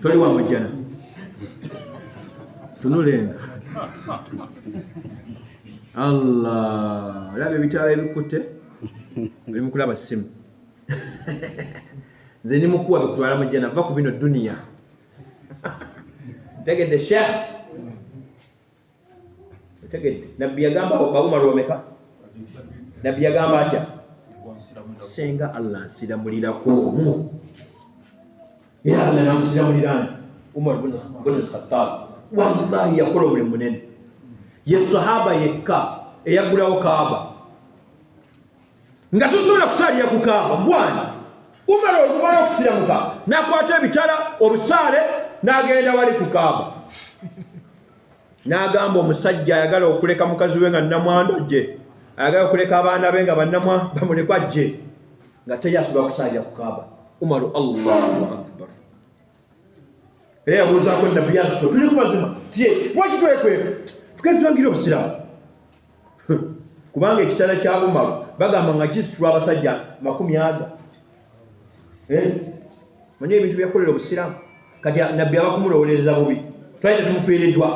toli wa mujjana tunula eno allah olaba ebitaala ebikutte oli mukulaba simu nze ni mukuwa bikutwala mujjana va ku bino duniya tegedde sheikh otegedde nabbi yagamba baumaru bameka nabbi yagamba atya senga allah nsiramulirako omu era allah namusiramulirani umar bun alkhatab wallahi yakola omulimu munene ye sahaba yekka eyagulawo kaaba nga tosobola kusaalira ku kaaba gwani umala olumala okusiramuka nakwata ebitala obusaale n'agenda wali ku kaaba n'agamba omusajja ayagala okuleka mukazi we nga namwandu ajje ayagala okuleka abaana be nga banamwa bamulekwa ajje nga teyasobola kusaalira ku kaaba umaru allahu akbar era yabuuzaako nabbi yatuso tuli ku mazima tye lwaki twekweka tukentulangira obusiraamu kubanga ekitala kya umaru bagamba nga kisitula abasajja makumi aga eh? manye ebintu byakolera obusiraamu kati nabbi abakumulowolereza bubi twali tetumufiiriddwa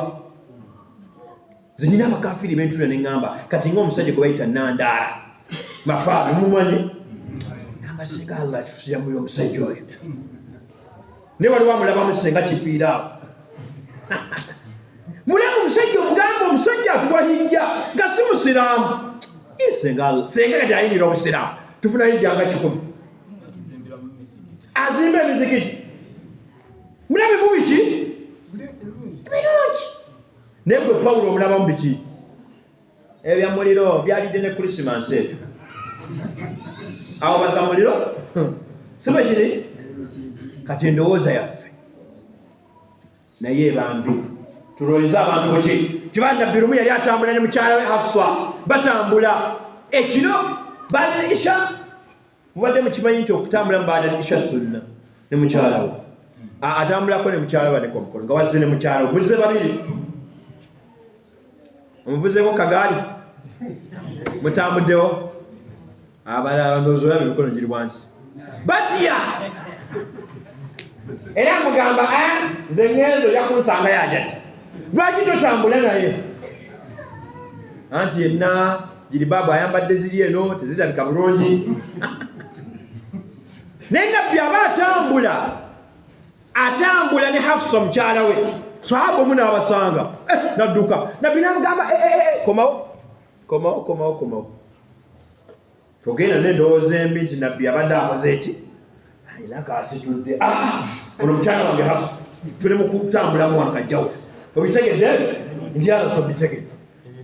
nze nyina abakafiri bentula ne ŋŋamba kati ng'omusajja gwe bayita nandaala mafaabi mumanye namba singa allah tusiyamuyo omusajja oyo ne waliwo amulabamu senga kifiiraawo mulaba omusajja omugamba omusajja akuwa hijja nga si musiraamu senga kati ayingira obusiraamu tufuna hijja nga kikumi azimba emizikiti mulabe mubiki naye gwe pawulo omulabamu biki ebya muliro byalidde ne krisimansi ebyo awo baza muliro siba kiri kati endowooza yaffe naye ebambi tulowoleza abantu buki kiba nabbi lumu yali atambula ne mukyala we hafsa batambula ekiro balisha mubadde mukimanyi nti okutambula mubaada nisha sunna ne mukyalawo atambulako ne mukyala waneka omukono nga wazze ne mukyala omuze babiri omuvuzeko kagaali mutambuddewo abalabandozolaba emikono giri wansi batya era mugamba ah, nze ngenzo yakunsanga yajati lwaki totambula naye anti yenna jiribaabu ayambadde ziri eno tezirabika bulungi naye nabbi aba atambula atambula ne hafusa mukyala we sahaba omu naabasanga eh, nadduka nabbi namugamba eh, eh, komawo komawo komawo komawo togenda nendowooza embi nti nabbi abadde akoze eki alina kaasitudde ah, ah, ono mukyala wange hafu tuli mukutambulamu wano kajjawo obitegedde ndyaso bitegedde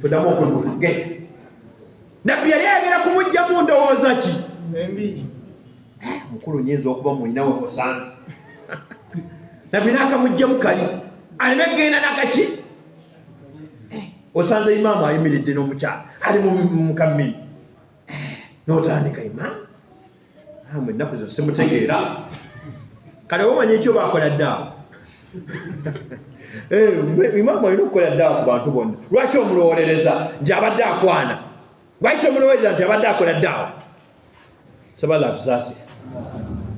todamu okunula ge nabbi yali ayagala kumugjamu ndowooza ki mukulu nyinza okuba mulinawe musanze nabbi nakamugjamu kali alina genda nakaki eh, osanze imaamu ayimiridde n'omukyala ali mukamini eh, notandika imaamu namwe ennaku zino simutegeera kale wamanya ekyo bakola daawo eh, imaama olina okukola daawo ku bantu bonna lwaki omulowolereza nti abadde akwana lwaki tomulowolereza nti abadde akola daawo sabala atusaasi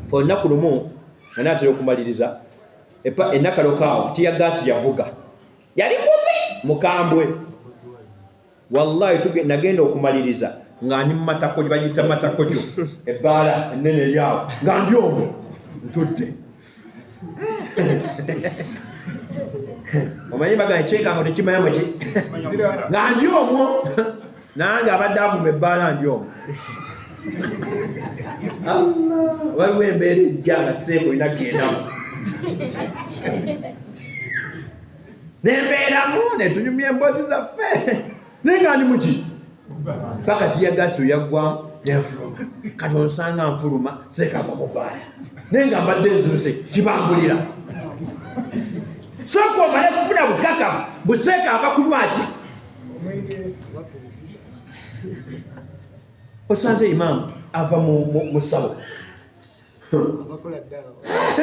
fe olunaku lumu ani atera okumaliriza enakalokaawo tiyagaasi yavuga yali mubi mukambwe wallahi tuge nagenda okumaliriza nga ndi mumatako bayita matako gyo ebbaala ennene eryawo nga ndi omwo ntudde omanyi bagana ekyekango tekimanyamu ki nga ndi omwo nange abadde avuma ebbaala ndi omwo waliwo embeera ejja nga seeku olina kyendamu nembeeramu netunyumya emboozi zaffe naye nga ndi muki paka tiyagasi oyaggwamu nenfuluma kati onsanga nfuluma sekava mubaala naye nga mbadde nzuuse kibangulira soka omale kufuna bukakafu buseeka ava kunywaki osanze imaamu ava mu sabo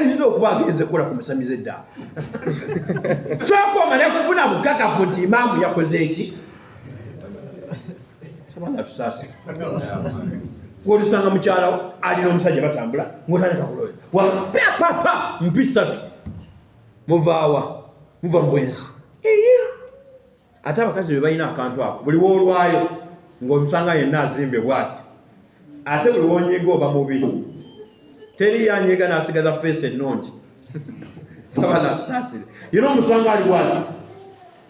nina okuba agenze kukola ku musamize dda kyokoma nekufuna bukakafu nti imaamu yakoze eki sabanga tusaasi wotusanga mukyalawo alina omusajja batambula ngotandika kuloya wapapapa mpisatu muvaawa muva mubwenzi ate abakazi be balina akantu ako buli woolwayo ng'omusanga yenna azimbe bwati ate buli wonyiga oba mubi teri yanyiga n'asigaza feesi ennungi sabala atusaasire yina omusanga ali bwati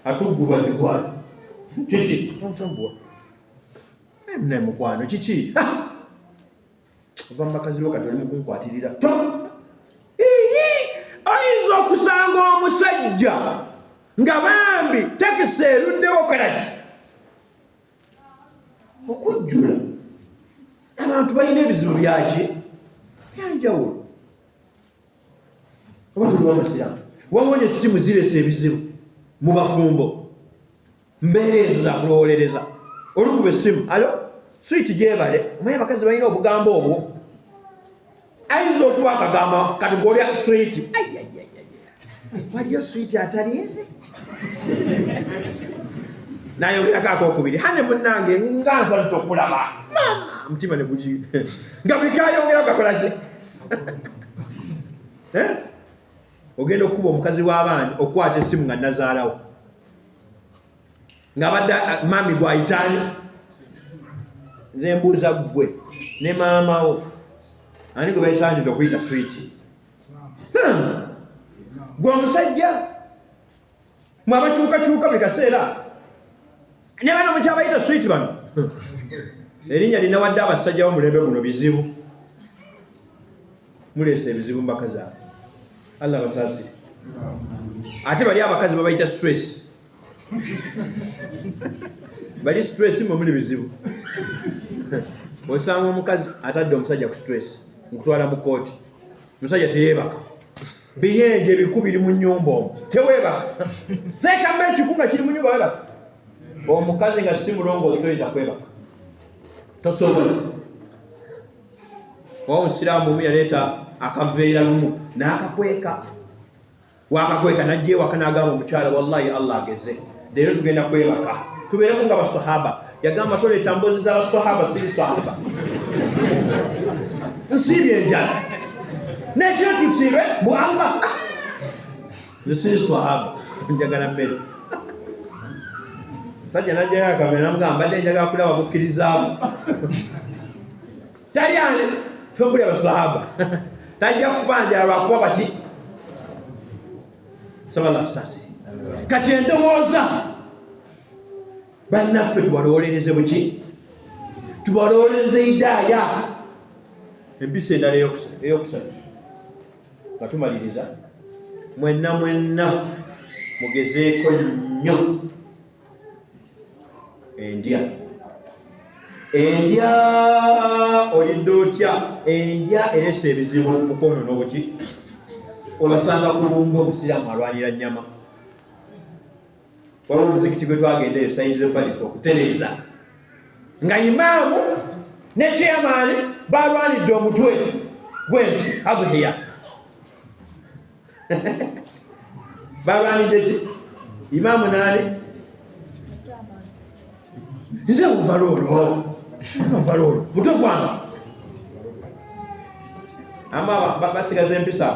atuggulwa ne bwati kiki ntambuwa ne mukwano kiki ova mu bakazi bo kati oli mukunkwatirira oyinza okusanga omusajja nga bambi takisi eruddewo kalaki okujjula abantu balina ebizibu byaki byanjawulo oba tuliwo musiramu wawona essimu ziresa ebizibu mu bafumbo mbeera ezo zakulowolereza olukuba essimu alo switi gyebale omaye abakazi balina obugambo obwo ayinza okuba akagamba kati golya switi waliyo switi ataliizi nayogerako akokubiri hane munange nga nsanisa okulaba omutima negugi nga bikayongera kakolaki eh? ogenda okukuba omukazi w'abaani okukwata essimu nga nazaalawo nga badde ah, mami gwayitaani nze mbuuza ggwe ne maamawo ani gwe bayisaanidde okuyita switi gwe omusajja mwe abakyukakyuka buli kaseera ne bano mukyabayita switi bano erinnya linawadde abasajja bomulembe guno bizibu muleese ebizibu mbaka zaabwe allah basaasire ate bali abakazi babayita stress bali stress mwe muli bizibu osanga omukazi atadde omusajja ku stress nkutwala mu kooti omusajja teyeebaka biyenje biku biri mu nyumba omu teweebaka sekamba ekiku nga kiri mu nyumba webaka omukazi nga si mulongoozi toyinza kwebaka tosobola oba omusiraamu omu yaleeta akaveera lumu n'akakweka wakakweka najja ewaka n'agamba omukyala wallahi allah ageze leero tugenda kwebaka tubeereko nga basahaba yagamba toleeta mbozi za basahaba siri sahaba nsiibye enjala nekiro tusiibe mu allah Nsi swahaba njagala mmere sajja najjayo akamera namugamba mbadde njagala kulaba bukkirizaamu tali ani tobuli abaswahaba tajja kufa njala lwakuba baki sabala tusasi kati endowooza bannaffe tubalowolereze buki tubalowolereze idaaya empisa endala eyokusatu nga tumaliriza mwenna mwenna mugezeeko nnyo endya endya olidde otya endya eresa ebizibu mukono n'obuki olasanga kulumba omusiraamu alwanira nnyama waliwo omuzikiti gwe twagenda eyo sayinza epalis okutereeza nga imaamu ne chairmani balwanidde omutwe gwenti adhiya balwanidde ki imaamu naani nze nvala olwo nvala olwo mutwe gwanga ama basigaza empisa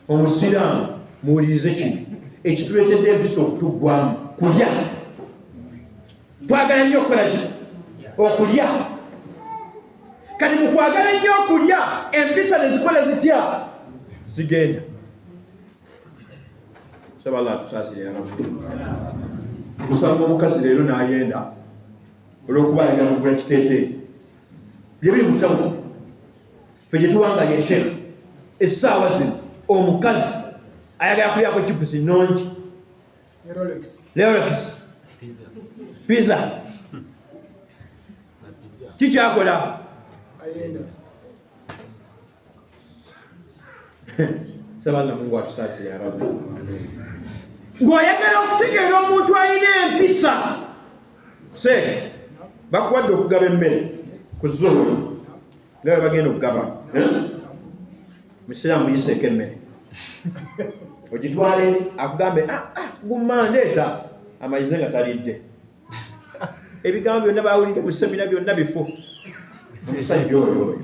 omusiraamu muwulirize kino ekituleetedde empisa okutuggwamu kulya twagala nnyo okukola kino okulya kati mu kwagala ennyo okulya empisa ne zikola zitya zigenda sabala atusaasirira omusanga omukazi leero n'ayenda olw'okuba ayina mugula kiteeteeyi bye biri mutamu fe gyetuwangalya sheikh essaawa zino omukazi ayagala kulyako chipusi nungi lerox piza kikyakola sabanna mungu atusasire abamu ng'oyagala okutegeera omuntu alina empisa se bakuwadde okugaba emmere ku zuula nga bwe bagenda okugaba musiraamu yiseeko emmere ogitwale akugambe ah, ah, gumma ndeeta amayize nga talidde ebigambo byonna bawulidde mu semina byonna bifu omusajja oyo oyo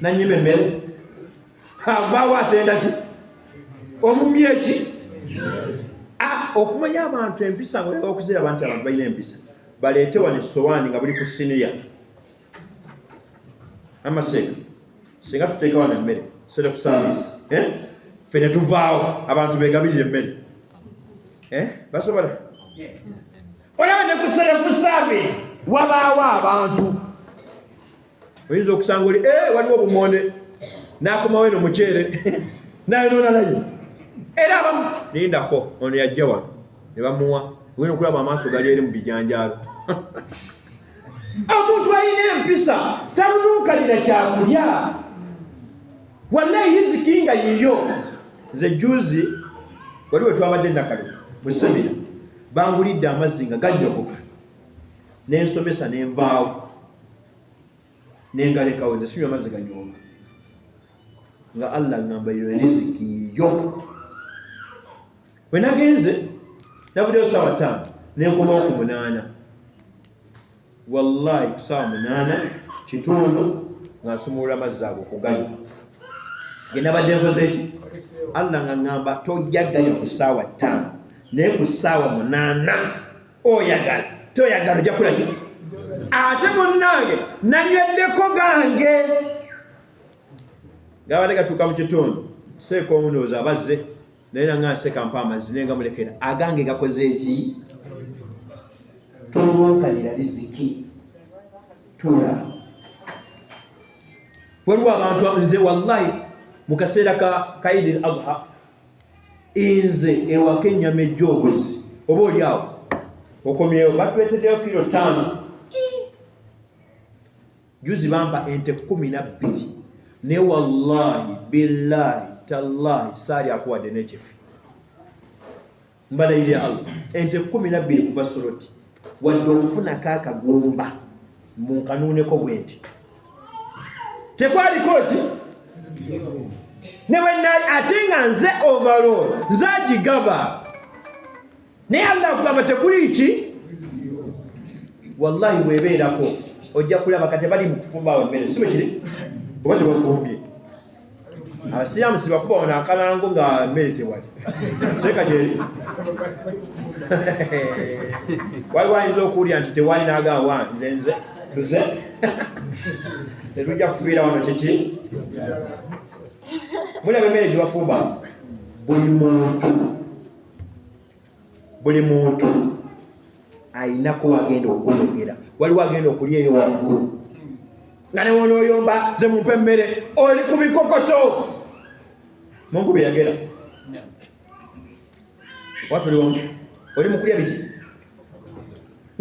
nanyima emmere avaawo atenda ki omumye ki ah, okumanya abantu empisa ngaokuzira abantu abantu balina empisa baleete wano essowaani nga buli ku siniya amaseeka singa tuteekawo nemmere self service eh? fe ne tuvaawo abantu begabirira emmere eh? basobola olaba ne ku self service wabaawo abantu oyinza okusanga oli eh, waliwo obumonde nakomawo eno muceere nayonona naye era abamu lindako ono yajja wano ne bamuwa wena okulaba amaaso gali eri mu bijanjaalo omuntu alina empisa talulunkanira kyakulya wanaye yiziki nga yiyo nze juzi wali wetwabadde nakalo musemira bangulidde amazzi nga ganyogoka nensomesa nenvaawo nengalekawo nze sinywa amazzi ganyoga nga allah ngamba yo riziki yo bwe nagenze nabuddeyo saawa ttaano nenkomawo ku munaana wallahi ku saawa munaana kitundu nga nsumulula amazzi ago kugayo ge nabadde nkoze eki allah nga ŋŋamba tojja gayo ku saawa ttaano naye ku saawa munaana oyagala toyagala ojja kukola ki ate munnange nanyweddeko gange gabadde gatuuka mu kitundu seeka omunoozi abazze naye nanga nseka mpa amazzi naye nga mulekera agange gakoze eki tolwankalira riziki tula waliwo abantu nze wallahi mu kaseera ka kaidi l adha nze ewaka ennyama ejja obuzi oba oli awo okomyewo batuletedeyo kiro taano juzi bampa ente kumi nabbiri naye wallahi billahi tallahi saali akuwadde nekifi mbalayire allah ente kumi nabbiri kuva soroti wadde okufunako akagumba munkanuuneko bwenti tekwaliko ki newenali ate nga nze overall nze agigaba naye allah akugamba tekuli ki wallahi webeerako ojja kulaba kati bali mukufumbawo emmere si bwekiri oba tebafumbye abasiraamu sibakuba wano akalango nga mmere tewali seeka gyeri waliwo ayinza okuwulira nti tewali nagawa nze nze tuze tetujja kufiira wano kiki mulaba emmere gyebafumba buli muntu buli muntu ayinako wagenda okwogera waliwo agenda okulya eyo waggulu nga newonoyomba ze mumpa emmere oli ku bikokoto mungu beyagera watuli wamu oli mukulya biki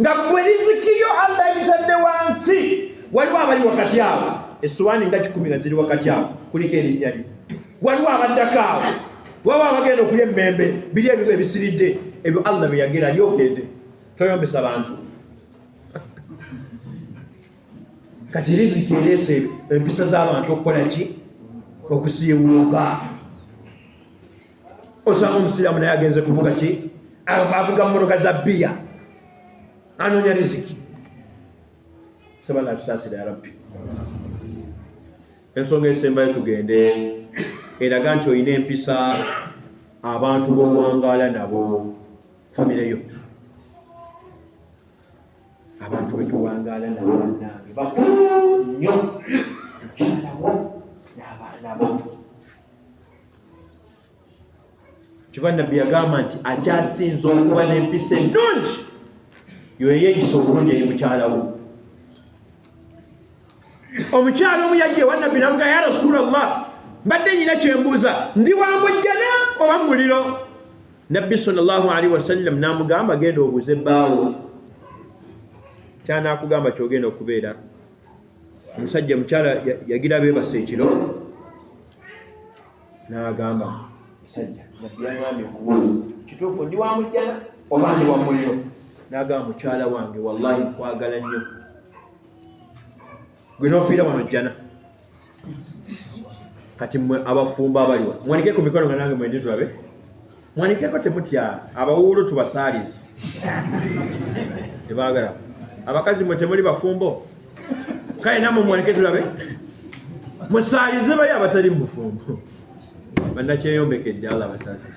nga gwe lizikiyo allah yitadde wansi waliwo abali wakati awo esuwaani nga kikumi nga ziri wakati awo kuliko erinnya lyo waliwo abaddako awo waba abagenda okulya emmembe biri ebigo ebisiridde ebyo allah byeyagera lyogende toyombesa bantu kati riziki ereese empisa z'abantu okukola ki okusiiwuuka osanga omusiraamu naye agenze kuvuga ki avuga mmotoka za bbiya anoonya riziki saba natusaasira yarabbi ensonga esembayo tugende eraga nti olina empisa abantu bowangaala nabo famire yo abantu betuwangaala nabo banange bakulu nnyo mukyalawo n'abaana bo kiva nabbi yagamba nti akyasinza okuba n'empisa ennungi yoyeyisa obulungi eri mukyala wo omukyala omu yajja ewa nabbi namuga ya rasuula llah mbadde nyina kyembuuza ndi wa mujjana oba muliro nabbi salllahu alaihi wasallam namugamba genda obuze baawo kyanakugamba kyogenda okubeera omusajja mukyala yagira bebasa ekiro n'agamba musajja nabbi yagambye okubuuza kituufu ndi wa mujjana oba ndi wa muliro n'agamba mukyala wange wallahi nkwagala nnyo gwe n'ofiira wano jjana kati mwe abafumbo abaliwa mwanike ku mikono nga nange mwendi tulabe mwanikeko temutya abawuulu tubasaalizi tebagala abakazi mwe temuli bafumbo kale namwe mwanike tulabe musaalize bali abatali mu bufumbo banakyeyombekedde allah basaasi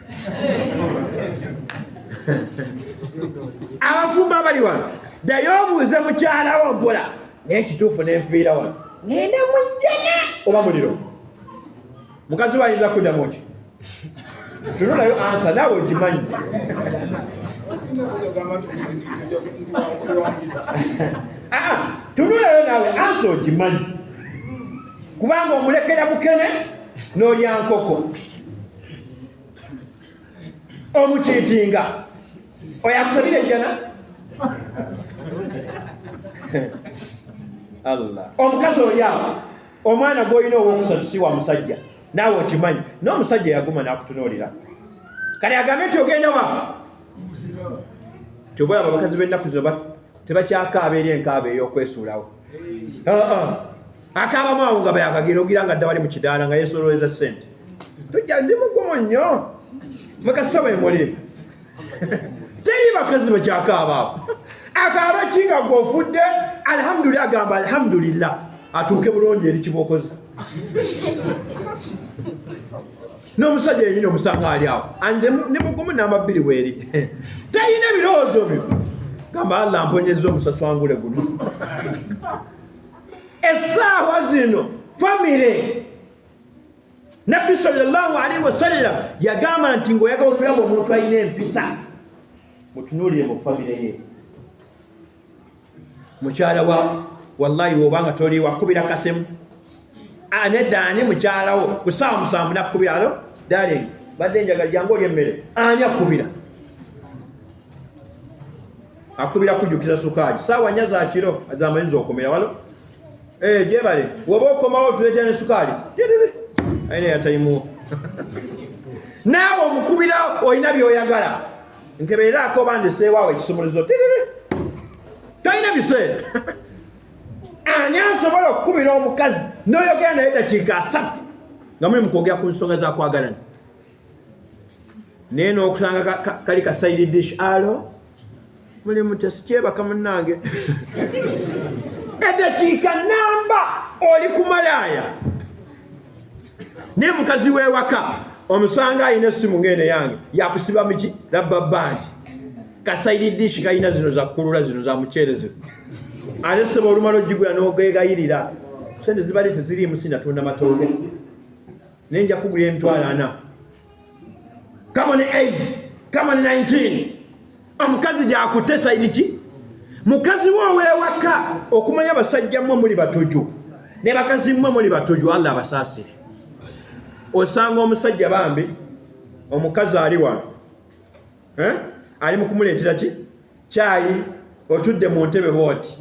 abafumbo abali wano ddayo obuuze mukyalawo mpola naye kituufu nenfiira wano ngenda mujjana oba muliro mukazi we ayinza kuddamu ki tunonayo ansa naawe ogimanyi tunuleyo naawe ansa ogimanyi kubanga omulekera bukene n'olya nkoko omukiitinga oyo akusabira ejjana omukazi olyawo omwana gwolina owokusatu si wa musajja naawe okimanyi n'omusajja yaguma n'akutunuulira kale agambe nti ogenda wa kyoba olaba abakazi b'ennaku zino tebakyakaaba eri enkaaba ey'okwesuulawo akaabamu awo nga bayakagira ogira nga dda wali mu kidaala nga yeesoloweza ssente tujja ndi mugumu nnyo mwekasita bwe muli teri bakazi bakyakaabaawo akaaba ki nga gwofudde alhamdulillah agamba alhamdulillah atuuke bulungi eri kibokozi n'omusajja yenyini omusanga ali awo anze ne mugumu namba bbiri weeri tayina ebirowoozo byo gamba allah mponyeza omusaswangule guno essaawa zino famire nabbi salllahu alaihi wasallam yagamba nti ngaoyagala okulaba omuntu alina empisa mutunuulire mu famire ye mukyala wa wallahi wobanga toli wakubira kasemu anedda ani mukyalawo ku saawa musanvu nakukubira alo darling badde njaga jangu oli emmere ani akubira akubira kujjukiza sukaali saawa nya zakiro zamanyiza okumira walo Eh, jebale. Woba okomawo tuleeta ne sukaali. Aina ya taimu. Naawe omukubira olina by'oyagala. Nkebeera akoba ndeseewaawo ekisumuluzo. Tiriri. Tolina biseera. Ani asobola okukubira omukazi n'oyogera naye dakiika asatu nga muli mu kwogera ku nsonga za kwagalana? naye n'okusanga kali ka side dish alo mulimu tesikyebaka munange edakiika namba oli ku malaaya naye mukazi w'ewaka omusanga alina essimu ng'eno yange yakusiba muki labba bandi kasaidi dishi kalina zino zakukulula zino za muceere zino ate seba olumala ogigula n'ogegayirira sente zibali teziriimu sinatunda matooke naye nja kugula emitwalo ana kama ne aids kama ne 19 omukazi gyakutte saidi ki mukazi we owewaka okumanya basajja mmwe muli batojo ne bakazi mmwe muli batojo allah abasaasire osanga omusajja bambi omukazi ali wano eh? ali mukumuleetera ki kyayi otudde mu ntebe booti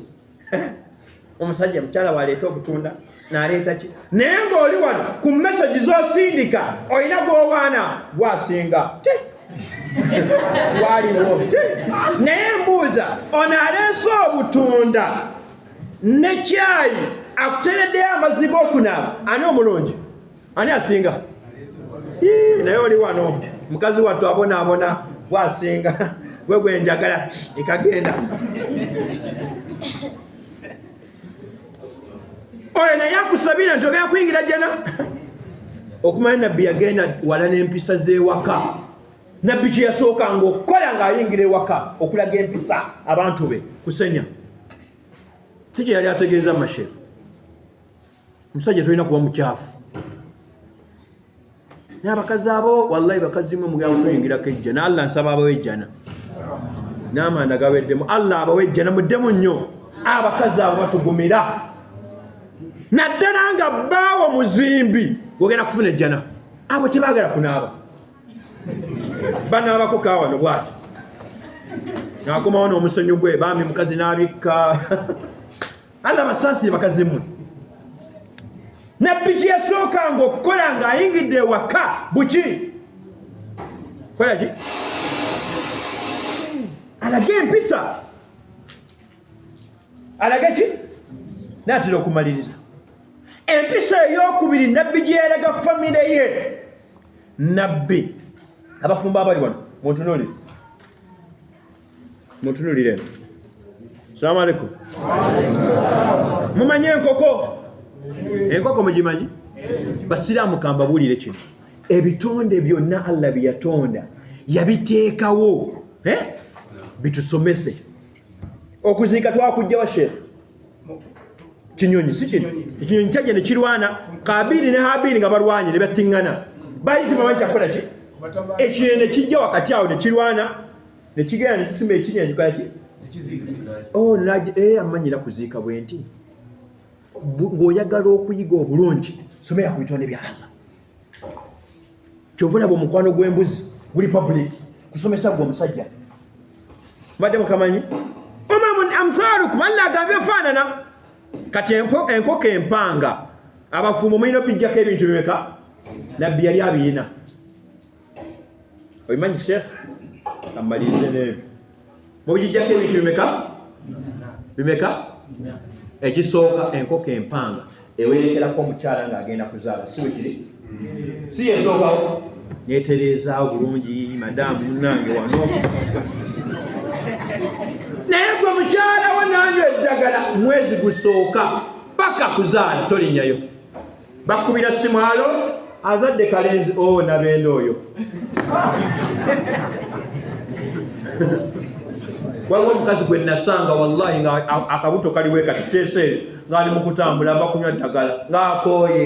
omusajja mukyala waleeta obutunda naleeta ki naye ng'oli wano ku mesagi zosindika olina gwowaana gwasinga waliwo naye mbuuza ono aleese obutunda ne kyayi akutereddeyo amaziga okunaaba ani omulungi ani asinga naye oli wano mukazi wattu abonaabona gwasinga gwe gwenjagala ekagenda oyo naye akusabira nti ogenda kuyingira jana okumanya nabbi yagenda wala n'empisa z'ewaka nabbi kye yasookanga okukola ng'ayingira ewaka okulaga empisa abantu be kusenya ti kye yali ategeeza mashefu musajja tolina kuba mukyafu naye abakazi abo wallahi bakazi mwe mugenda kutuyingirako ejja na allah nsaba abawe ejjana n'amanda gaweddemu allah abawe ejjana muddemu nnyo abakazi abo batugumira naddala nga baawo muzimbi ogenda kufuna ejjana abo tebagala kunaaba banaabako kawano bwati nakomawo n'omusonyi gwe bambi mukazi n'abikka allah basaasire bakazi mmwe nabbi kyeyasookanga okukola ng'ayingidde ewaka buki kola ki alage empisa alage ki naatera okumaliriza empisa eyokubiri nabbi gye yalaga famire ye nabbi abafumbo abali wano muntunuli Mutunulire. Salamu alaikum. Mumanyi enkoko? Enkoko mugimanyi? Basiraamu kambabuulire kino. Ebitonde byonna Allah bye yatonda yabiteekawo eh? bitusomese. Okuziika twakujja wa sheekh? Kinyonyi si kino. Ekinyonyi kyajja ne kirwana Kaabiri ne Haabiri nga balwanye ne battingana. Baali tebamanyi kyakukola ki? Ekinyonyi ne kijja wakati awo ne kirwana nekigenda nekisima ekinya kikaki oh, eh, amanyira kuziika bwenti ng'oyagala okuyiga obulungi somera ku bitonde bya allah kyova olaba omukwano gw'embuzi guli public kusomesa gwe omusajja mbadde mukamanyi amsalukum allah agambye faanana kati enkoko empanga abafumbo mulina obijjako ebintu bimeka nabbi yali abiyina obimanyi sheikh amalirize neyo mubijijjako ebintu bimeka bimeka ekisooka enkoko empanga ewerekerako omukyala nga agenda kuzaala si wekiri si yesookawo netereezaawo bulungi madamu munange wano naye gwe mukyala wo nanyo eddagala mwezi gusooka paka kuzaala tolinyayo bakubira simwalo azadde kalenzi o oh, nabeenda oyo waliwo omukazi gwe nasanga wallahi nga akabuto kaliwe katiteese ngaali mukutambula ava kunywa ddagala ngaakooye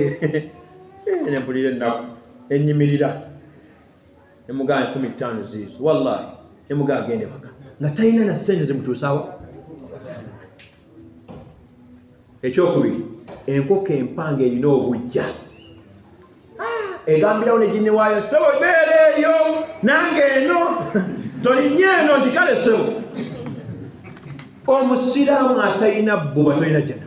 nempulira ennaku enyimirira emugaa kumi ttaano ziizo wallahi emugaa agende waka nga talina na sente zimutuusawo ekyokubiri enkoko empanga erina obujja egambirawo ne gini waayo sebo beera eyo nange eno tolinye eno nti kale sebo omusiraamu atalina bbuba tolina jjana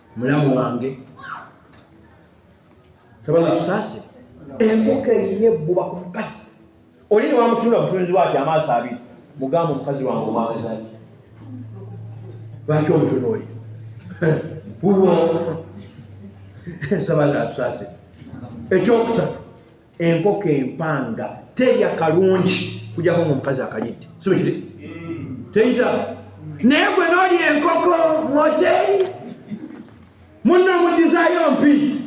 mulamu wange sabanga tusaasire embuka erina ebbuba ku mukazi oli ne wamutunula butunzi bwati amaaso abiri mugamba omukazi wange omwagazaki lwaki omutunuuli wulwo nsaba nga atusaasire ekyokusatu enkoko empanga terya kalungi kujako nga omukazi akalidde sibekiri teyita naye gwe nolya enkoko mwoteri munna omudizayo mpi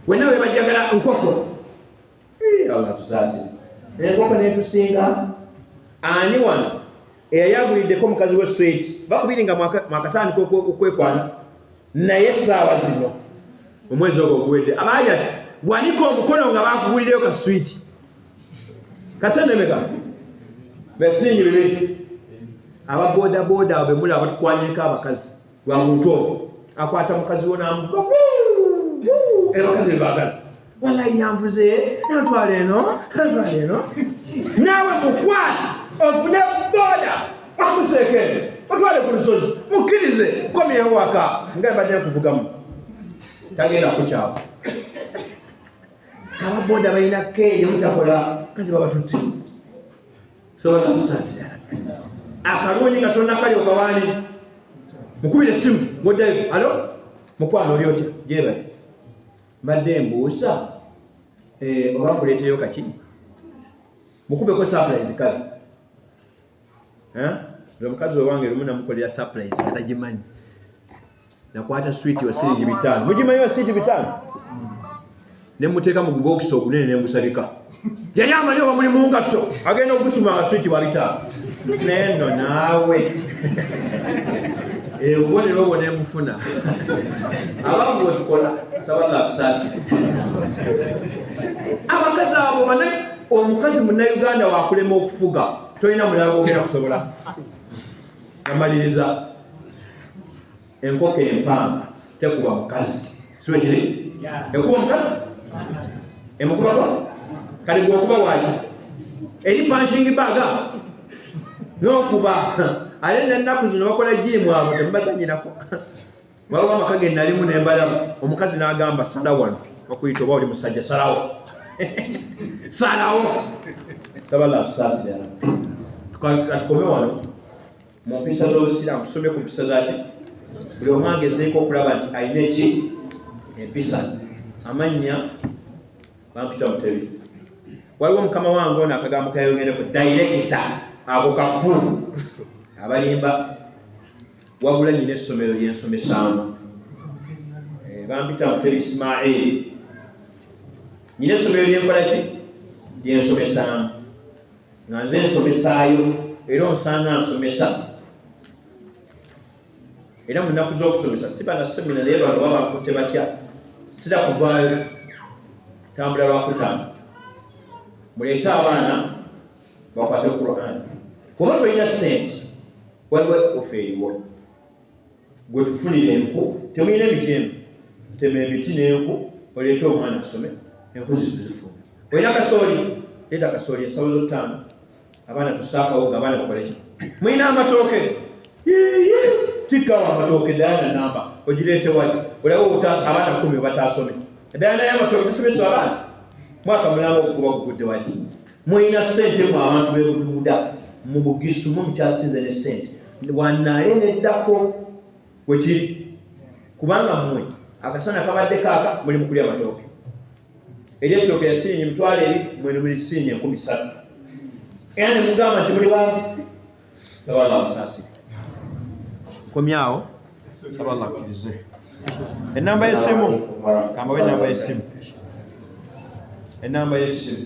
wena webajagala nkoko allah tusasire enkoko netusinga ani wano eyayaguliddeko omukazi we sweti bakubiri nga mwakatandika okwekwana naye essaawa zino omwezi ogwo oguwedde abaajati wanika omukono nga bakugulireyo ka switi kasenemeka besingi bibiri aba boda boda abo bemuli abatukwanyeko abakazi lwa muntu obo akwata mukazi wo namukuba ebakazi bebagala walayi yanvuze nantwala eno nantwala eno naawe mukwati ofune boda akuseeke otwale ku lusozi mukkirize komyewo waka nga mbadde nkuvugamu tagenda kukyawa ababoda balina keeyo mutakola kazi babatutte sobola kusaasira akalungi nga tonna kali okawaani mukubira essimu ngoddayo alo mukwano oli otya gyebali mbadde mbuusa eh, oba kuleeteyo kaki mukubeko surprise kale nze omukazi owange lumu namukolera surprise nga tagimanyi nakwata swit wasiringi bitaano mugimanyi wasiringi bitaano ne muteeka mu gubokisi ogunene ne ngusabika yali amanyi oba muli mungatto agenda okusima abaswiti babitaano naye no naawe obubonero obwo nemufuna abamu bwetukola saba nga tusaasire abakazi abo bana omukazi munauganda wakulema okufuga tolina mulala gwogera kusobola amaliriza enkoko empanga tekuba mukazi siwe kiri ekuba omukazi emukubako kali gwokuba wali eri punching bag nokuba ate nenaku zino bakola jiimu abo temubazanyirako waliwo amaka ge nalimu nembalamu omukazi nagamba sala wano bakuyita oba oli musajja salawo salawo tabala tusaasira tukome wano mu mpisa z'obusiraamu tusomye ku mpisa zaki buli omu agezeeko okulaba nti alina eki empisa amannya bampita mutebi waliwo mukama wange ono akagambo kayogereko dayirekita ako kafu abalimba wabula nyina essomero lyensomesaamu eh, bampita mutebi ismail nyina essomero lyenkolaki lyensomesaamu nga nze nsomesaayo era onsanga nsomesa era mu nnaku z'okusomesa si bana semina naye bantu baba bakutte batya sira kuvaayo tambula lwakutaano muleete abaana bakwate qurani kuba tolina sente waliwo ofe eriwo gwe tufunire enku temulina emiti eno tema emiti n'enku oleete omwana asome enku zituzifuna olina kasooli leeta kasooli ensawo zottaano abaana tusaakawo nga abaana bakoleki mulina amatooke tikkawo amatooke dayana namba ogireete wali olaba obutaasa abaana kumi obataasome dayana y'amatooke tusomesa abaana mwaka mulamba okukuba okugudde wali mulina ssente mu abantu bebuduuda mu bugisu mu mukyasinze ne ssente wanaale neddako wekiri kubanga mmwe akasana kabadde kaaka muli mukulya matooke eri ettooke yasirinyi mitwalo eri mwene muli kisirinyi enkumi ssatu era ne mugamba nti muli wange Allah amusaasi komyawo saba Allah akkirize ennamba y'essimu kambawo ennamba y'essimu ennamba y'essimu